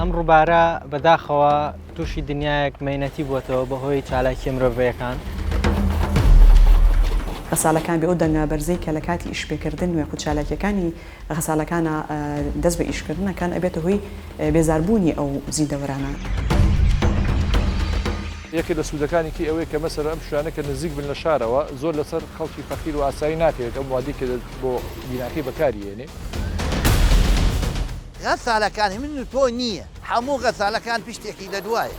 ئەم ڕووبارە بەداخەوە تووشی دنیایەک مەینەتی بووەتەوە بەهۆی چالاکی مرۆڤەکان. غەسالەکان بێ ئەو دەنگە بەرزەی کە لە کاتی ئیشپێکردن وێخ و چالاکیەکانی غەسالەکانە دەست بە ئیشکردنەکان ئەبێتە هۆی بێزاربوونی ئەو زیندەوەرانە. یەکێ لە سوودەکانی کەی ئەوەیە کە مەسەر ئەم شوانە کە نزیک بن لە شارەوە زۆر لەسەر خەڵکی فەقیر و ئاسایی ناکەوێت ئەم وادی کە بۆ بیناکەی بەکاری هێنێ. غەسالەکان هی من و تۆ نییە، هەموو غەسالەکان پشتێکی لە دوایە.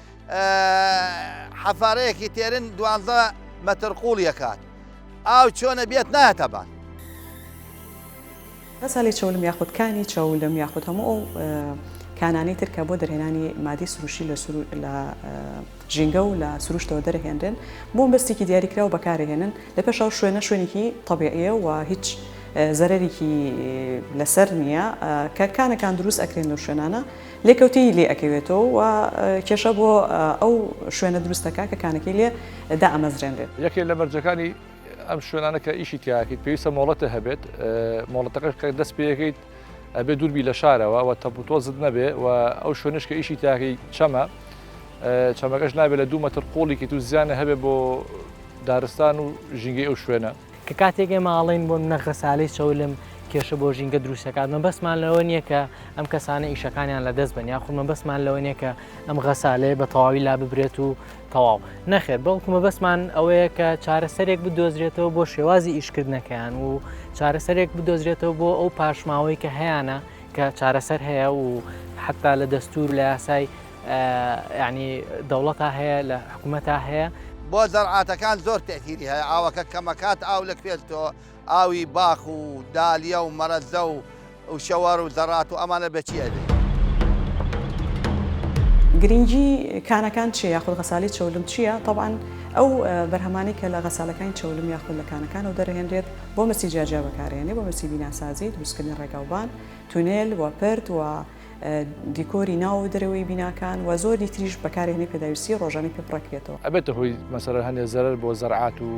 حەفارەیەکی تێرن دوانزە مەتر قوڵیەکات ئاو چۆنە بێت نایەتە بان. غەزالی چەولم یاخود کانی چەولم یاخود هەموو ئەو کانانەی تر کە بۆ دەرهێنانی مادی سروشی لە لە ژینگە و لە سروشتەوە دەرهێنرێن بۆم بەستێکی دیاریکراو بەکارهێنن لە پێشاو شوێنە شوێنێکی طبیعە و هیچ زەرەرێکی لەسەر نییە کە کانەکان دروست ئەکرێن لەو شوێنانە لێکەوتەیی لێ ئەکەوێتەوە و کێشە بۆ ئەو شوێنە دروست دەکات کە کانەکەی لێ دائەمەزرێنرێت. یەکێک لە مەرجەکانی ئەم شوێنانە کە ئیشی تیا ئەکەیت پێویستە مۆڵەتت هەبێت، مۆڵەتەکەش کە دەست پێ ئەکەیت ئەبێ دوور بی لە شارەوە و تەپوتۆزت نەبێ و ئەو شوێنەش کە ئیشی تیا ئەکەیت چەمە، چەمەکەش نابێ لە دوو مەتر قووڵی کەیت و زیانە هەبێ بۆ دارستان و ژینگەی ئەو شوێنە. کە کاتێک ئێمە ئاڵێن بۆ منە غەسالەی چەولم کێشە بۆ ژینگە دروستەکات مە بەسمان لەوە نییە کە ئەم کەسانە ئیشەکانیان لە دەست بن یاخمە بەسمان لەوە نیە کە ئەم غەسالەیە بە تەواوی لا ببرێت و تەواو نەخێت بەڵکومە بەسمان ئەوەیە کە چارەسەرێک بدۆزرێتەوە بۆ شێوازی ئیشکردنەکەیان و چارەسەرێک بدۆزرێتەوە بۆ ئەو پاشماوەی کە هەیەە کە چارەسەر هەیە و حتا لە دەستور لە یاسای یانی دەوڵەتا هەیە لە حکومەتا هەیە. بۆ زەرعاتەکان زۆر تەئسیری هەیە ئاوەکە کەمەکات ئاو لە کوێ تۆ ئاوی باخ و دالیە و مەرەزە و و شەوەر و زەڕات و ئەمانە بە چی ئەبێ. گرینگی کانەکان چیە یاخود غەسالی چەولم چیە تەبعەن ئەو بەرهەمانەی کە لە غەسالەکانی چەولم یاخود لە کانەکانەوە دەرەهێنرێت بۆ مەسی جیاجیا بەکارەیەنێ بۆ مەسی بیناسازی دروستکردنی ڕێگاوبان تونێل و پرد و دیکۆری ناو و دەرەوەی بیناکان و زۆری تریش بەکارهێنەی پێداویستی ڕۆژانەی پێ پڕە کرێتەوە. ئەبێتە هۆی مەسەلەن هەندێ زەرەر بۆ زەرعات و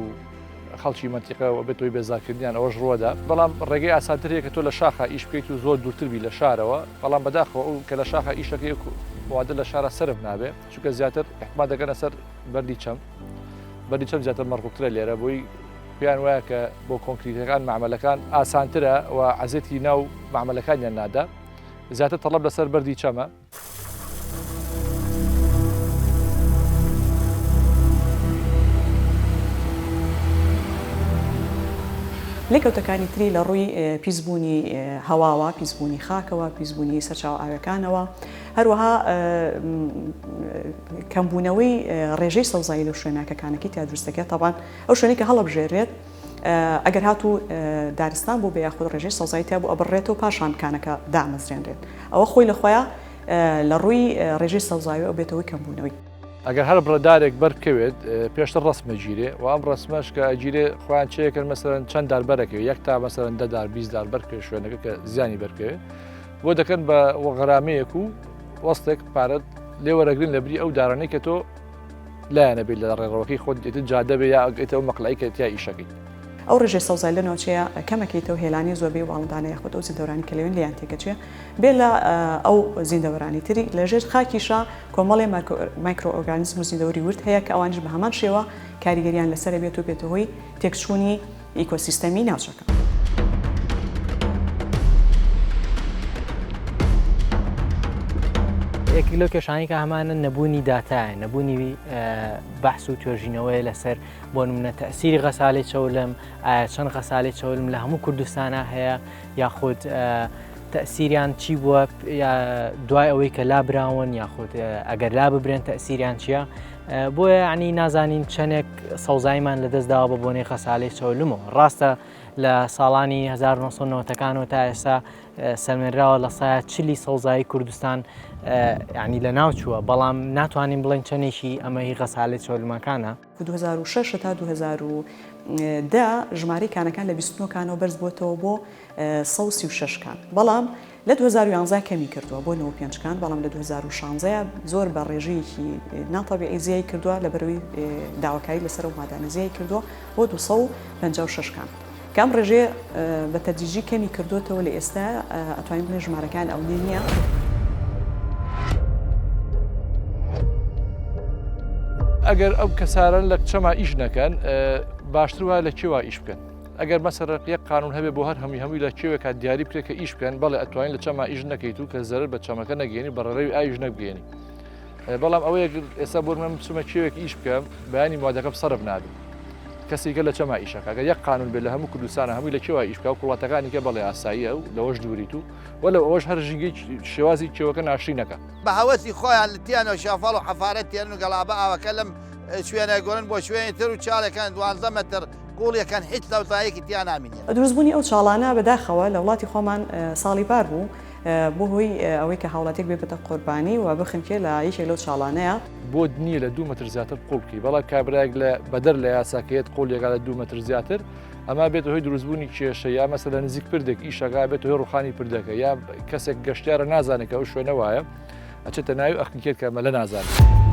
خەڵکی مەنتیقە و ئەبێتە هۆی بێزارکردنیان ئەوەش ڕووەدا بەڵام ڕێگەی ئاسانتر هەیە کە تۆ لە شاخا ئیش بکەیت و زۆر دوورتر بی لە شارەوە بەڵام بەداخەوە ئەو کە لە شاخا ئیش دەکەی وەکو وادە لە شارا سەرف نابێ چونکە زیاتر احتما دەکەنە سەر بەردی چەم بەردی چەم زیاتر مەڕکوبترە لێرە بۆی پێیان وایە کە بۆ کۆنکریتەکان مەعمەلەکان ئاسانترە و عەزێتی ناو مەعمەلەکانیان نادا. زیاتر تەڵەب لەسەر بەردی چەمە. لێکەوتەکانی تری لە ڕووی پیسبوونی هەواوە، پیسبوونی خاکەوە، پیسبوونی سەرچاو ئاوەکانەوە، هەروەها کەمبوونەوەی ڕێژەی سەوزایی لە شوێنە کە کانەکەی تیادروستەکە تەبان ئەو شوێنی کە هەڵبژێرێت، ئەگەر هاتوو دارستان بووبێ یاخود ڕێژەی سەوزایی تیابوو ئەبڕرێتەوە پاشان کانەکە دامەزرێنرێت ئەوە خۆی لە خۆیا لە ڕووی ڕێژەی سەوزاوی ئەو بێتەوەی کەمبوونەوەی. ئەگەر هەر بڕە دارێک بەر بکەوێت پێشتر ڕەسم ئەگیرێ و ئەم ڕەسمەش کە ئەگیرێ خۆیان چێکرد مەسەرەن چەند دار بەرەکەوێت یەک تا مەسەرەن دەدار بیست دار بەر پێ شوێنەکە کە زیانی بەرکەوێت بۆ دەکەن بە وەغرامەیەک و وەستێک پارەت لێ وەرەگرن لە بری ئەو دارانەی کە تۆ لایەنە بێت لە ڕێڕەوەکەی خۆت دێتت جادە بێ یا ئەگەیتە ئەو مەقلەی کە تیا ئیشەکەیت. ئەو ڕێژەی سەوزای لە ناوچەیە کەمەکەیتەوە هێلانەی زۆربەی واڵندانە یاخود ئەو زیندەوەرانی کە لەوێن لێیان تێکەچێ بێ لە ئەو زیندەوەرانی تری. لە ژێر خاکیشا کۆمەڵێ مایکرۆئۆرگانیزم و زیندەوەری ورد هەیە کە ئەوانیش بە هەمان شێوە کاریگەریان لەسەرە بێت و بێتە هۆی تێکچوونی ئیکۆسیستەمی ناوچەکە. یەکێک لەو کێشانەی کە هەمانە نەبوونی داتایە نەبوونی بەحس و توێژینەوەی لەسەر بۆ نمونە تەسیری غەسالی چەولم ئایا چەند غەسالی چەولم لە هەموو کوردستانە هەیە یاخود تەسیریان چی بووە دوای ئەوەی کە لابراون یاخود ئەگەر لا ببرێن تەسیریان چییە؟ بۆیە یعنی نازانین چەندێک سەوزایمان لەدەست داوە بە بۆنەی خەسالەی چەولمەوە ڕاستە لە ساڵانی 1990ەکانەوە تا ئێستا سەلمێنراوە لە سایە چلی سەوزایی کوردستان ینی لە ناو چووە بەڵام ناتوانین بڵێن چەندێکی ئەمەی غەسالی چۆلمەکانە 2006 تا 2010 ژمارەی کانەکان لە 29 کانەوە بەرز بووەوە بۆ 16 کان بەڵام لە دوو هەزار و یانزە کەمی کردووە بۆ نۆ پێنج کان بەڵام لە دوو هەزار و شانزە زۆر بە ڕێژەیەکی ناتەبیعی زیای کردووە لەبەرەوەی داواکاری لەسەر ئەو مادانە زیای کردووە بۆ دوو سەد و پەنجا و شەش کان کە ئەم ڕێژەیە بە تەدریجی کەمی کردووەتەوە لە ئێستا ئەتوانین بڵێین ژمارەکان ئەونە نییە. ئەگەر ئەو کەسارن لە کچەما ئیش نەکەن باشتر وایە لە کێوا ئیش بکەن ئەگەر مەسەرەق یەک قانون هەبێ بۆ هەر هەمی هەمووی لە کێوێکا دیاری بکرێت کە ئیش بکەن بەڵێ ئەتوانین لە چەما ئیش نەکەیت و کە زەرر بە چەمەکە نەگەێنی بەڕێڕەوی ئایش نەبگەێنی بەڵام ئەوەیە ئێستا بۆ من بچمە کێوێک ئیش بکەم بەیانی موادەکەم سەرف نابێت کەسیکە لە چەما ئیشەکە گە یەک قانون بێت لە هەموو کوردستانە هەمووی لە کێوە ئیشکا و کوڵاتەکانی کە بەڵێ ئاساییە و لەوەش دووریت و وە لە ئەوەش هەر ژینگەی شێوازی کێوەکە ناشری نەکە بە هەوەسی خۆیان لە تیانە شەفاڵ و حەفارە تێرن و گەڵابە ئاوەکە لەم شوێنە گۆرن بۆ شوێنی تر و چاڵەکان دوانزە مەتر گۆڵیەکان هیچ لەوزایەکی تیا نامینێ. دروستبوونی ئەو چاڵانە بەداخەوە لە وڵاتی خۆمان ساڵی پار بوو بۆ هۆی ئەوەی کە هاوڵاتیەک بێ بتە قۆربانی و بخنکێ لە یەکێک لەو چاڵانەیە. بۆت نییە لە دوو مەتر زیاتر قۆڵ بکەی بەڵام کابرایەک لە بەدەر لە یاسا کە یەت قۆڵ یەکا لە دوو مەتر زیاتر ئەما بێت هۆی دروستبوونی کێشە یا مەسە لە نزیک پردێک ئیشەکە بێت هۆی ڕوخانی پردەکە یا کەسێک گەشتارە نازانێت کە ئەو شوێنە وایە. ئەچێتە ناوی ئەخنی کرد کە مەلە نازانێت.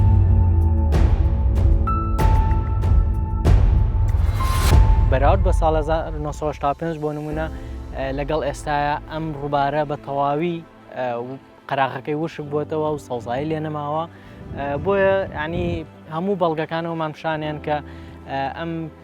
بەراورد بە ساڵ 1975 بۆ نمونە لەگەڵ ئێستاە ئەم ڕووبارە بە تەواوی قەراغەکەی وشک بووتەوە و سەوزایی لێ نەماوە بۆیە ینی هەموو بەڵگەکانەوەمان پیشانیان کە ئەم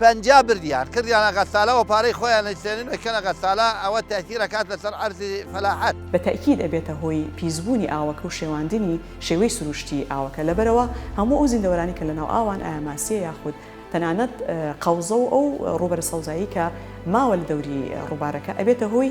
پەنجا بردیان کردیانە غەسالە و پارەی خۆیان ئەیسێنن ئەیکەنە غەسالە، ئەوە تەئثیر ئەکات لەسەر عەرزی فەلاحەت. بە تەئکید ئەبێتە هۆی پیسبوونی ئاوەکە و شێواندنی شێوەی سروشتیی ئاوەکە، لەبەرئەوە هەموو ئەو زیندەوەرانی کە لەناو ئاوان ئایا ماسییە یاخود تەنانەت قەوزە و ئەو ڕووبەرە سەوزایەی کە ماوە لە دەوری ڕووبارەکە ئەبێتە هۆی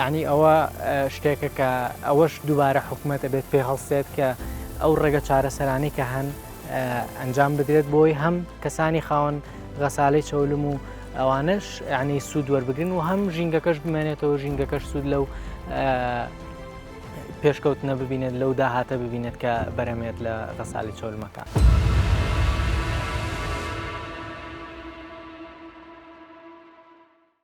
یانی ئەوە شتێکە کە ئەوەش دووبارە حکوومەت ئەبێت پێ هەڵسێت کە ئەو ڕێگە چارەسەرانی کە هەن ئەنجام بدرێت بۆی هەم کەسانی خاوەن غەساالەی چەولم و ئەوانش ینی سوود وەربگرن و هەم ژینگەکەش بمێنێتەوە ژینگەکەش سوود لەو پێشکەوتنە ببینێت لەو داهاتە ببینێت کە بەرەمێت لە غەساالی چۆلمەکە.